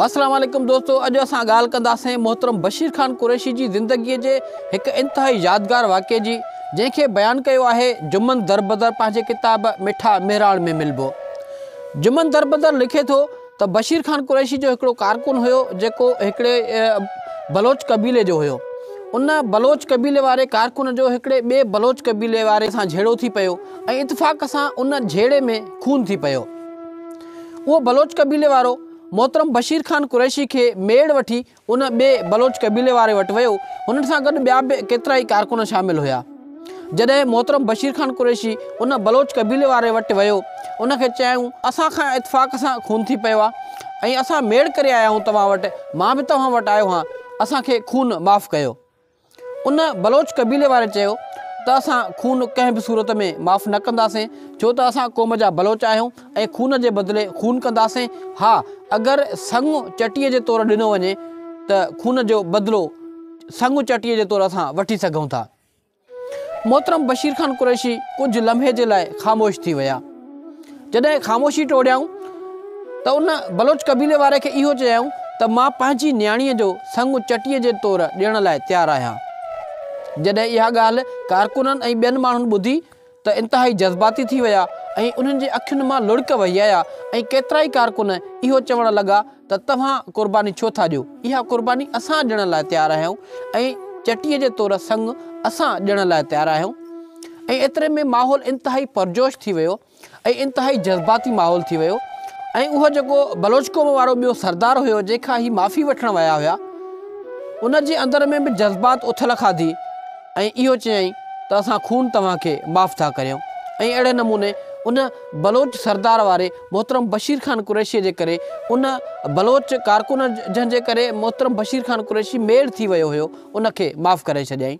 السلام عليڪم دوستو اڄ اسان ڳالهه ڪنداسين محترم بشير خان قريشي جي زندگي جي هڪ انتهائي يادگار واقعي جي جنهن کي بيان ڪيو آهي جمن دربدر پنهنجي ڪتاب مٺا مهراڻ ۾ ملبو جمن دربدر لکي ٿو ته بشير خان قريشي جو هڪڙو ڪارڪن هيو جيڪو هڪڙي بلوچ قبيلي جو هيو ان بلوچ قبيلي واري ڪارڪن جو هڪڙي ٻي بلوچ قبيلي واري سان جهيڙو ٿي پيو ۽ اتفاق سان ان جهيڙي ۾ خون ٿي پيو اهو بلوچ قبيلي وارو محترم بشير خان قريشي کي ميڙ وٺي ان ٻئي بلوچ قبيلي واري وٽ ويو، هنن سان گڏ ٻيا به ڪيترائي ڪارڪن شامل هيا. جڏهن محترم بشير خان قريشي ان بلوچ قبيلي واري وٽ ويو، ان کي چيائون، اسان کان اتفاق سان خون ٿي پيو آ ۽ اسان ميڙ ڪري آيا آهيون توهان وٽ، مان به توهان وٽ آيو هان، اسان کي خون معاف ڪيو. ان بلوچ قبيلي واري چيو ته اسان خون ڪنهن به صورت ۾ معاف نه ڪنداسين ڇو ته اسان قوم جا بلوچ آهيون ۽ خون جي بدلي خون ڪنداسين ها اگر سڱ چٽي جي طور ڏنو وڃي ته خون جو بدلو سڱ چٽي جي طور اسان وٺي سگهون ٿا محترم بشير خان قريشي ڪجهه لمحي جي لاء خاموش ٿي ويا. جڏهن خاموشي ٽوڙيائون ته ان بلوچ قبيلي واري کي اهو چيائون ته مان پنهنجي نياڻيء جو سڱ چٽيء جي طور ڏيڻ لاء تيار آهيان. جڏهن اها ڳالهه ڪارڪنن ۽ ٻين ماڻهن ٻڌي ته انتهائي جذباتي ٿي ويا ۽ انهن جي اکين مان لڙڪ وهي آيا ۽ ڪيترائي ڪارڪن اهو چوڻ لڳا ته توهان قرباني ڇو ٿا ڏيو؟ اها قرباني اسان ڏيڻ لاء تيار آهيون ۽ چٽيء جي طور سڱ اسان ڏيڻ لاء تيار آهيون. ۽ ايتري ۾ ماحول انتهائي پرجوش ٿي ويو ۽ انتهائي جذباتي ماحول ٿي ويو ۽ اهو جيڪو بلوچ قوم وارو ٻيو سردار هيو جنهن کان هي معافي وٺڻ ويا هيا ان جي اندر ۾ به جذبات اٿل کاڌي ۽ اهو چيائين ته اسان خون توهان کي معاف ٿا ڪريون ۽ اهڙي نموني ان بلوچ سردار واري محترم بشير خان قريشيء جي ڪري ان بلوچ ڪارڪن جنهن جي ڪري محترم بشير خان قريشي ميڙ ٿي ويو هيو ان کي معاف ڪري ڇڏيائين.